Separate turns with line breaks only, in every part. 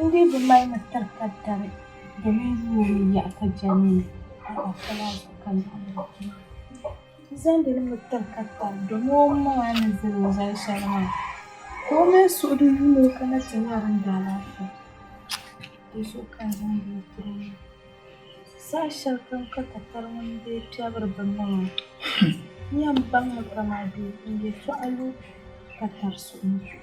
N dii bi mali ni tiri ka dari domin yuwa ni yaɣi ka jɛmmi ni alaafɛla zuɣu ka lahi ni bɛ kpini. N zaŋdi li mi tiri ka dari domin o maŋa ni zali o zali shɛli maa ka o mini suɣi di yuun ni o kana ti nya din da alaafɛ. Di zuɣu ka n zaŋdi li tiri o maa. Saha shɛli kam ka takari ŋuni dee piɛbiri bini na maa n yɛn baŋ mi ka maa bee n yɛtɔɣa lu ka tari suɣi ni zuɣu.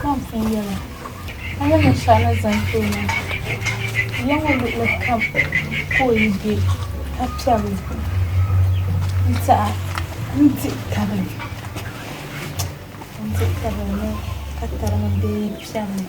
Samson yɛla, A ni niŋ shɛli ni zaŋ ti o maa, ya ŋɔ luɣili kam ka o yi be ka piɛri o zuɣu n-tiɛha n-dihi tabili n-dihi tabili ni ka tari ŋun bee yi piɛri o.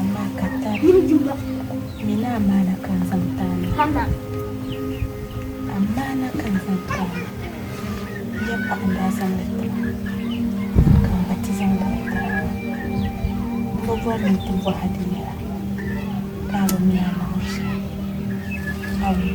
Amaa ka tari mi ni amaana ka n zaŋ taali hama, amaana ka n zaŋ taali yɛm ka n daa zaŋ li ti ba, ka n gba ti zaŋ bɔhi Taraba. M bi bɔri ni n ti bɔh a di yɛla ka a bi mi a naawuni shɛli. Awii.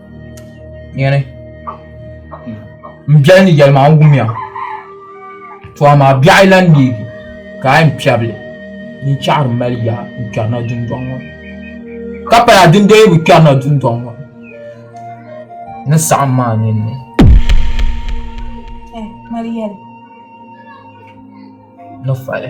Nyɛni m biɛli ni yɛli maa n wumya to amaa biɛɣu yi lahi neegi ka a yɛn kpɛri li din chɛɣiri m mali yaa n kpɛrina dundɔŋ ŋɔ ka pala din dee bi kpɛrina dundɔŋ ŋɔ ni saɣim maa ninni ni fali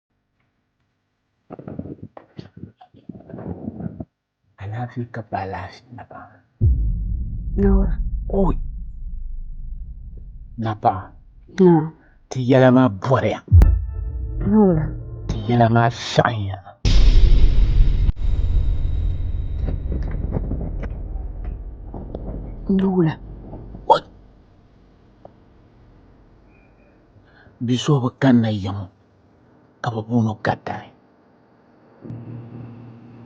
Alaafee ka paai laafee napaɣa napaɣa ti yɛla maa bɔriya ti yɛla maa saɣiya bia so bi kanna yiŋɔ ka bɛ booni o Gaddani.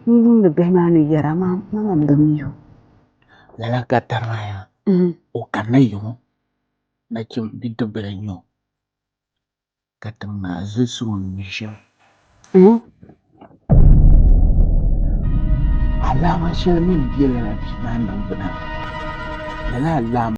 N yuuni bihi maa ni yɛra, Mama m-bi mi o. Lala Gaddani maa yaa, o kanila yiŋɔ nachim bidibbil n-nyɛ o, ka tim maa zilisi o ni mi shɛm. Alaama shɛli mi m-be lala bia maa niŋgbuna maa, lala alaama.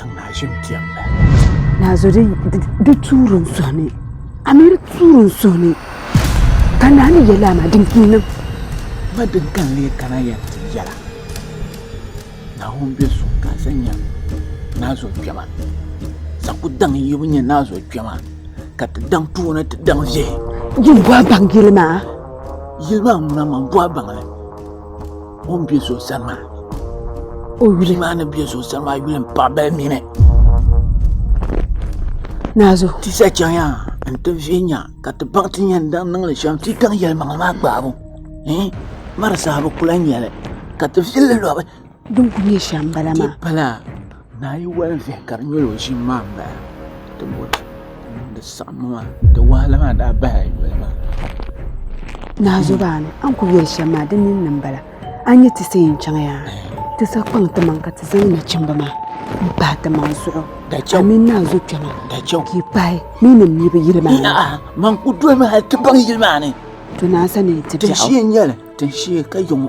Tiŋ naa ʒim kpɛmmi. Naa zo di tuuri n suhi ni. Amir tuuri n suhi ni. Ka naa ni yɛli ama din kii niŋ. Ma din kan lee kana yɛn ti yɛla. Naawuni bɛ so ka sa nyɛ naa zo kpɛma. Saku daŋ yibu nyɛ naa zo kpɛma. Ka ti daŋ puuni ti daŋ ʒihi. Yin bɔhi baŋ yili maa. Yili maa ŋuna man bɔhi baŋli. O ni bɛ zuɣusaa maa o yuli maa ni bɛ zuɣusaa maa yuli n paɣa bali mini. Naazu. Ti sa chɛŋya n ti viɛnya ka ti baŋ ti yɛn daŋ niŋli shɛm ti daŋ yɛlimaŋli maa gbaabu mari sahibu kula nyɛli ka ti viɛlli lɔbi. Din ku nyɛ shɛm bala maa. Naa yi wali vihi ka di nyɛla o ʒimi maa n bala di saɣammi maa di wahala maa daa bahi a noli maa Naa Zobaani a ni ku yɛli shɛm maa di ninni n bala a ni nyɛ ti sa yɛn chɛŋ yaa ti sa kpaŋ ti maŋ ka ti zaŋ nachimbi maa n pahi ti maŋ zuɣu a mini naa zo kpɛma ka yi pahi ni yi ni mi bi yili maa man ku dolimi hali ti baŋ yili maa ni to naa sani ti biɛɣu tinshiɛ n nyɛli tinshiɛ ka yi ŋɔ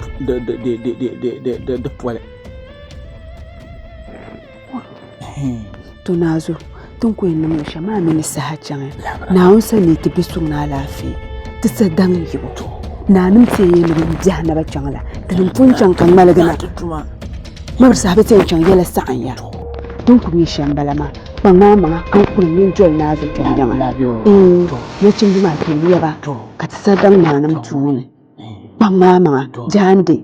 di poli tɔnaazuɣu ti ni ku yɛn niŋ shɛm maa mi ni saha chaŋ ya Naawuni sani ni ti bɛ suŋ ni alaafee ti sa daŋ yibu nanim ti yɛn yɛli ni biɛhi ni bi chaŋ la tinim pun chaŋ ka ŋmaligi na miri saha bi ti yɛn chaŋ yɛla saɣim ya din ku nyɛ shɛm bala maa kpaŋ maa maŋa ka n kuli ŋmɛ n doli naa zuɣu kpɛm yiŋa nachimba maa kpɛm ya ba ka ti sa daŋ naanim tuuni. kpaŋ maa maŋa jaande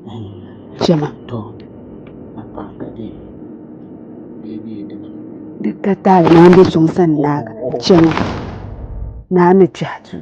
shɛma di ka taali maa bɛ suŋ sani naa ka chɛma naa ni kpɛhi duu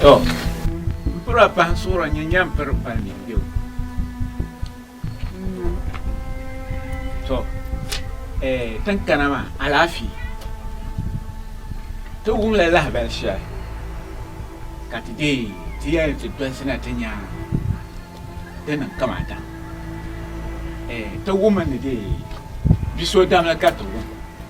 To, m piri a pahi suhira n-nyɛ nyaam piri pali mini bɛ o. To, eh, tin kana maa, alaafee. Ti wumla lahabali shɛli ka ti deei ti yɛli ni ti dɔlisina ti nya din niŋ kamata. Eh, ti wummi ni dee bi so damli ka ti wum.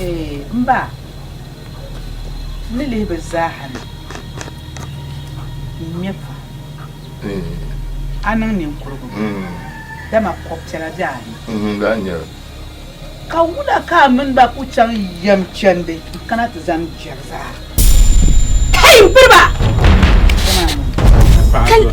Ee, m ba, n ni lihi bɛ zaa ha ni n nya ka a niŋ ninkurigu, dama kɔb piɛla bɛ a ni. Ka wula ka a mini ba ku chaŋ yɛm chandi n-kana ti zani Gɛrizaa? Hei m piriba! Dama a ni.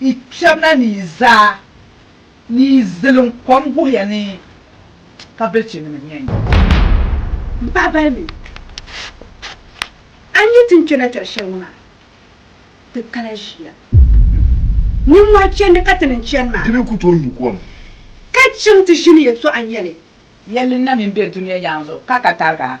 Yi kpɛbina ni yi zaa ni yi zilim kom guhiya ni ka bilichi nima nya yi. M paɣa balimi, a ni yi ti ni kpɛna tɛri shɛli ŋɔ maa, ti kana ʒiya. Nimmɔhi chandi ka ti ni chani maa. Di ni ku tooi nyu kom. Ka chaŋ ti ʒini yɛltɔɣa nyɛli. Yɛlli na mi n-be dunia yaŋ zuɣu ka ka tariga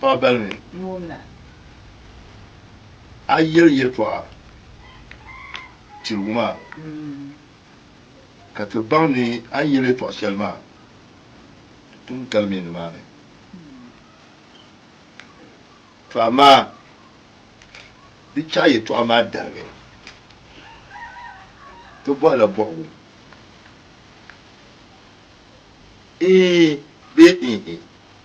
Paɣa bali mi a yɛli yɛltɔɣa tirigu maa ka ti baŋ ni a ni yɛli yɛltɔɣa shɛli maa n gari mi nimaani. To amaa di chaɣi yɛltɔɣa maa darigi ti bɔhi la bɔhigu Ee bee Eehe.